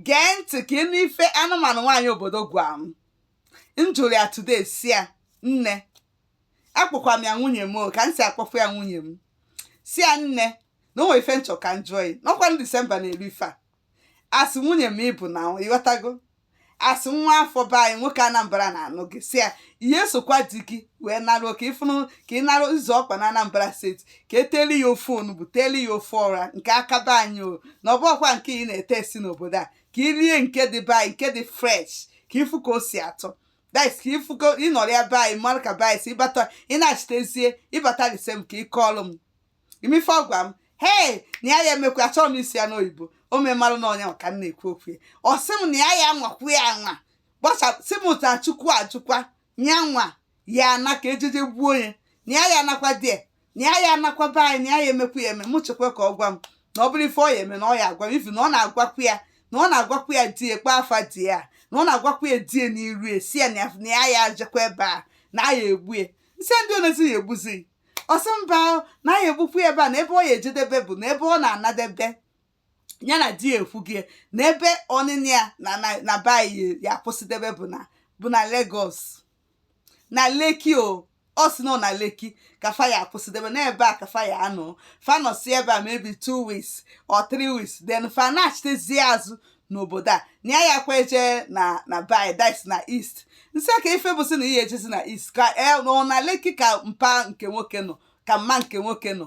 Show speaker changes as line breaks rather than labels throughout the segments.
gee ntị ka ị nụ ife anụmanụ nwaanyị obodo gwa m m jụrụ ya today sị ya nne akpọkwa m ya nwunye m o, ka m si akpọfu ya nwunye m sị ya nne na o nwere ife m chọ ka m jụọ ya n'ọkwa na disemba na-eru ife a asị nwunye m ị bụ na ị ghọtago asị nwa afọ be anyị nwoke anambra na-anụ gị sị ya ị ya esokwa di gị wee naruo ka ị fụnụ ka ị narụ ịzọ ọkpa na anambra steeti ka e teli ya ofe onugbu teli ya ofe ọra nke aka be anyị o na ọ bụrọkwa nke ị na-ete esi n'obodo a ka i rie nke dị be anyị nke dị fresh ka ị fụ ka o si atọ that is ka ị fụ ka ị nọrọ ya be anyị mara ka be anyị si ị bata ị na-achitezie ị bata lise m ka ị kọọlụ m ị ma ife ọ gwa m hei na ya ya emekwa achọrọ m ịsị ya n'oyibo o memarụ na ọ nya ka m na-ekwu okwu ya ọ sị m na ya ya anwakwu ya anwa gbacha sị m taa chukwu ajụkwa nya nwa ya ana ka e je je gbuo onye na ya ya anakwa di ya na ya ya anakwa be anyị na ya ya emekwa ya eme mụ chekwa ka ọ gwa m na ọ bụrụ ife ọ ya eme na ọ ya agwa m ị fụ na ọ na-agwakwa ya na ọ na-agwakwa ya di ya kpaa afa di ya na ọ na-agwakwa ya di ya n'iru ya sị ya na ya- na ya ya ajekwa ebe a na a ya egbu ya m sị ndị onezi ya egbuzi ọ sị mba o, na a ya egbukwa ya ebe a na ebe ọ ya ejedebe bụ na ebe ọ na-anadebe ya na di ya ekwugie na ebe ọnịnị ya na na na be anyị ya akwụsịdebe bụ na bụ na Lagos na Lekki o ọ sị na ọ na Lekki ka fa ya akwụsịdebe n'ebe a ka fa ya anọ fa nọsi ebe a maybe two weeks or three weeks then fa na-achitezie azụ n'obodo a na ya yakwa eje na na be anyị that is na east m sị kee ife bụ sị na ị ya ejezi na east ka ọ na Lekki ka mpa nke nwoke nọ ka mma nke nwoke nọ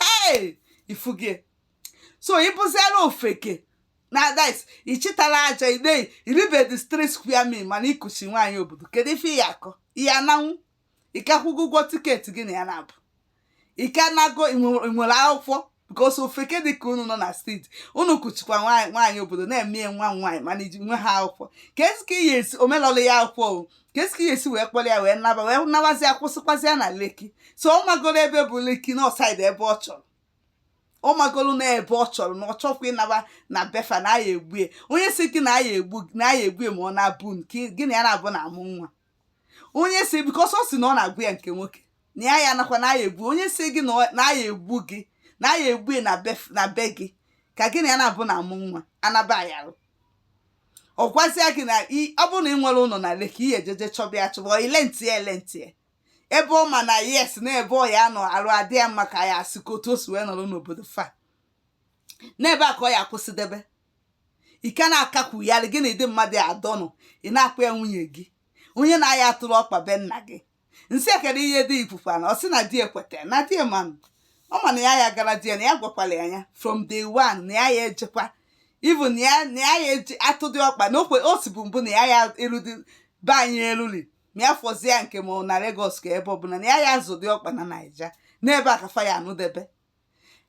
hey ị fụ gị so ị bụziela ofeke na that is ị chịtara aja ide i ribedi three square meal mana i kuchi nwaanyị obodo kedu ife ị ya akọ ị ya ananwu ị ka akwụgo ụgwọ tiketi gị na ya naabọ ị ka nago nwere akwụkwọ because ofeke dị ka unu nọ na steeti unu kuchikwa nwaanyị obodo na-eme nwa nwaanyị mana iji nwe ha akwụkwọ keezi ka ị ya esi wee melụlụ ya akwụkwọ keezi ka ị ya esi wee kpọrọ ya wee naba wee nabazi ya kwụsịkwazi ya na Lekki so ọ magoro ebe bụ Lekki na ọ side ebe ọ chọrọ ọ magoro na ebe ọ chọrọ na ọ chọkwa ịnaba na be fa na a ya egbu ya onye sị gị na a ya egbu na a ya egbu ya ma ọ na-abụ nke gị na ya naabọ na-amụ nwa onye sị because ọ sị na ọ na-agwa ya nke nwoke na ya ya anakwa na a ya egbu onye sị gị na ọ- na a ya egbu gị na a ya egbu ya na bef- na be gị ka gị na ya naabọ na-amụ nwa anaba ayarụ ọ gwasịa gị na ọ bụrụ na ị nwere ụnọ na Lekki ị ya eje je chọba ya chọba i rentie e rentie ebe ọ ma na yes na ebe ọ ya nọ arụ adị ya mma ka ya asị ka otu o si wee nọrọ n'obodo fa n'ebe a ka ọ ya akwụsịdebe ị ka na-akakwugharị gị na ụdị mmadụ adọnụ ị na-akpọ ya nwunye gị onye na-aya atụrụ ọkpa be nna gị m sị ya kedụ ihe di gị kwukwanụ ọ sị na di ya kweta na di ya manụ ọ ma na ya ya gwara di ya na ya gwakwala ya ya from day one na ya ya ejekwa even na ya na ya ya eji atụdị ọkpa na okwe o sibu mbụ na ya ya eludi be anyị eruli ma ya fọzie ya nke ma ọ na Lagos ka ebe ọbụla na ya ya azọdị ọkpa na Naija n'ebe a ka fa ya anọdebe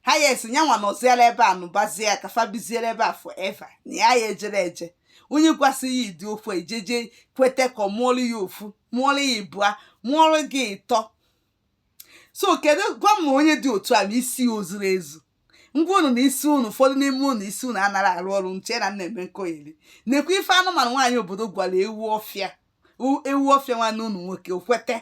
ha ya esi nyanwa nọziela ebe a nụbazie ya ka fa biziere ebe a forever na ya ya ejere eje onye gwasị ya ihe dị ofu i jeje kweta ka ọ mụọlụ ya ofu mụọlụ ya ịbụa mụọlụ gị ịtọ so kedu gwa m onye dị otu a ma isi ya o zuru ezu ngwa unu na isi unu ụfọdụ n'ime unu isi unu anarọ arụ ọrụ nche na m na-eme nkọyeri na-ekwu ife anụmanụ nwaanyị obodo gwara ewu ọfịa u- ewu ọfịa nwanne unu nwoke o kweta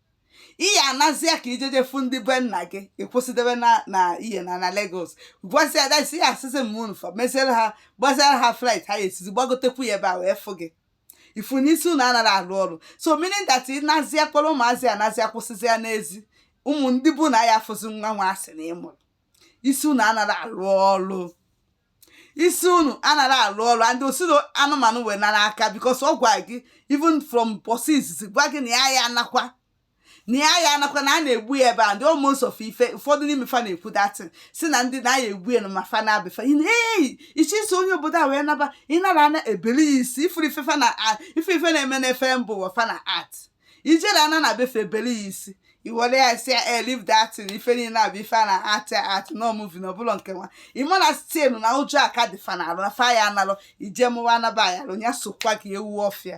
ị ya anazia ka i jeje fụ ndị be nna gị ị kwụsịdebe na na ihe na na Lagos gwazia dasi ya asịsị m unu fa meziere ha gbaziara ha flight ha esizi gbagotekwu ya ebe a wee fụ gị ị fụ na isi unu anarọ alụ ọrụ so meaning that ị nazia kpọrọ ụmụazị anazia kwụsịzịa n'ezi ụmụ ndị be nna ya afụzi nwa nwa a sị na ị mụrụ isi unu anarọ alụ ọrụ isi unu anarọ alụ ọrụ and o si anụmanụ wee nara aka because ọ gwa gị even from bọsị izizi gwa gị na ya ya anakwa na ya ya anakwa na a na-egbu ya ebe a ndị almost of ife ụfọdụ n'ime fa na-ekwu that ị sị na ndị na ya egbu ya na ma fa na be fa ichi isi onye obodo a wee naba ịnara ana ebeli ya isi ị fụrụ ife fa na ife ife na-eme na film bụ nwa fa na-act i jere ana na be fa ebeli ya isi i were ya si ya e leave that thing ife niile a bụ ife a na-act act na movie na ọ bụrọ nke nwa ị ma na still na ụjọ aka dị fa n'arụ na fa ya analụ i jee mụọ nwa anaba ya alụ ya sokwa gị ewu ọfịa